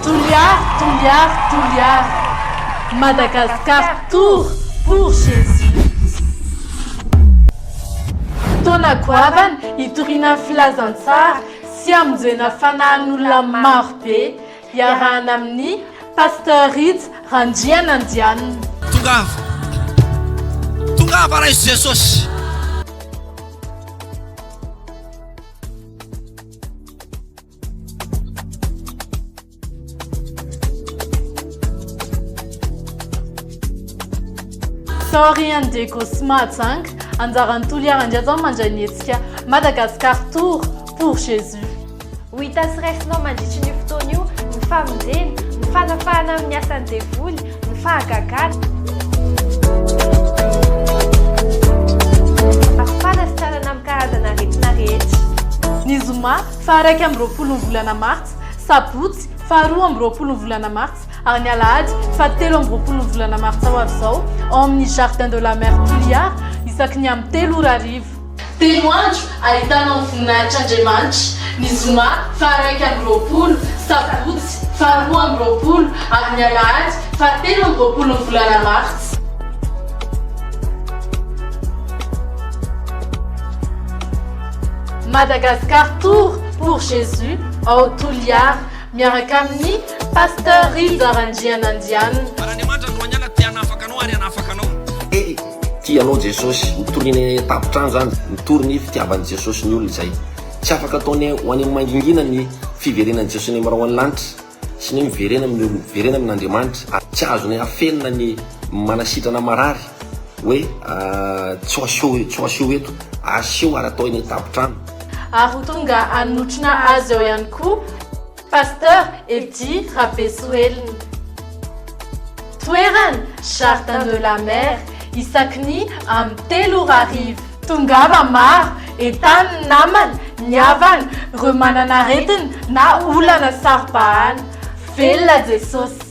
Toliary Toliary Toliary Madagascar tour pour Jesus Fotoana goavana hitoriana ny filazantsara sy hamonjena fanahin'olona maro be iarahana amin'i Pasteur Rija Randrianandianina. Tongava, tongava Ray Jesosy. Sorry and Diego Smart Zang, anjaran'ny Toliara Ndiaza mandray ny hetsika Madagascar Tour pour Jésus. Ho hita sy raisinao mandritry ny fotoana io ny famonjena, ny fanafahana amin'ny asan'ny devoly, ny fahagagana. Afana sy tanana amin'ny karazana aretina rehetra. Ny zoma Faha-iraika amby roapolo ny volana martsa, sabotsy, faha-roa amby roapolo ny volana martsa, ary ny alahady, faha-telo amby roapolo ny volana martsa ho avy izao, ao amin'ny Jardin de la Mer Toliara, isaky ny amin'ny telo ora hariva. Telo andro ahitana ny voninahitr'Andriamanitra, ny zoma, faha-iraika amby roapolo, sabotsy, faha-roa amby roapolo, ary ny alahady, faha-telo amby roapolo ny volana martsa. Madagascar Tour pour Jésus ao Toliara miaraka amin'ny Pasteur Rija Randrianandianina. Baraniamanitra Androaniala te hanafaka anao ary hanafaka anao. Te tia anao Jesosy. Mitorina eny an-tampon-trano izany, mitory ny fitiavan'i Jesosy ny olona izay. Tsy afaka ataony ho any amin'ny mangingina ny fiverenan'i Jesosy any amin'ny rahona lanitra. sy ny miverena amin'ny olona, miverena amin'Andriamanitra, ary tsy azonay afenina ny manasitrana marary hoe tsy ho aseho eto, aseho ary atao eny an-tampon-trano. Ary ho tonga hanotrona azy ao ihany koa Pasteur Eddy Rabesoelina. Toerana, Jardin de la Mer, isaky ny amin'ny telo ora hariva. Tongava maro, entanin' ny namana, ny havana, ireo manana aretina na olana saro-bahana. Velona Jesosy!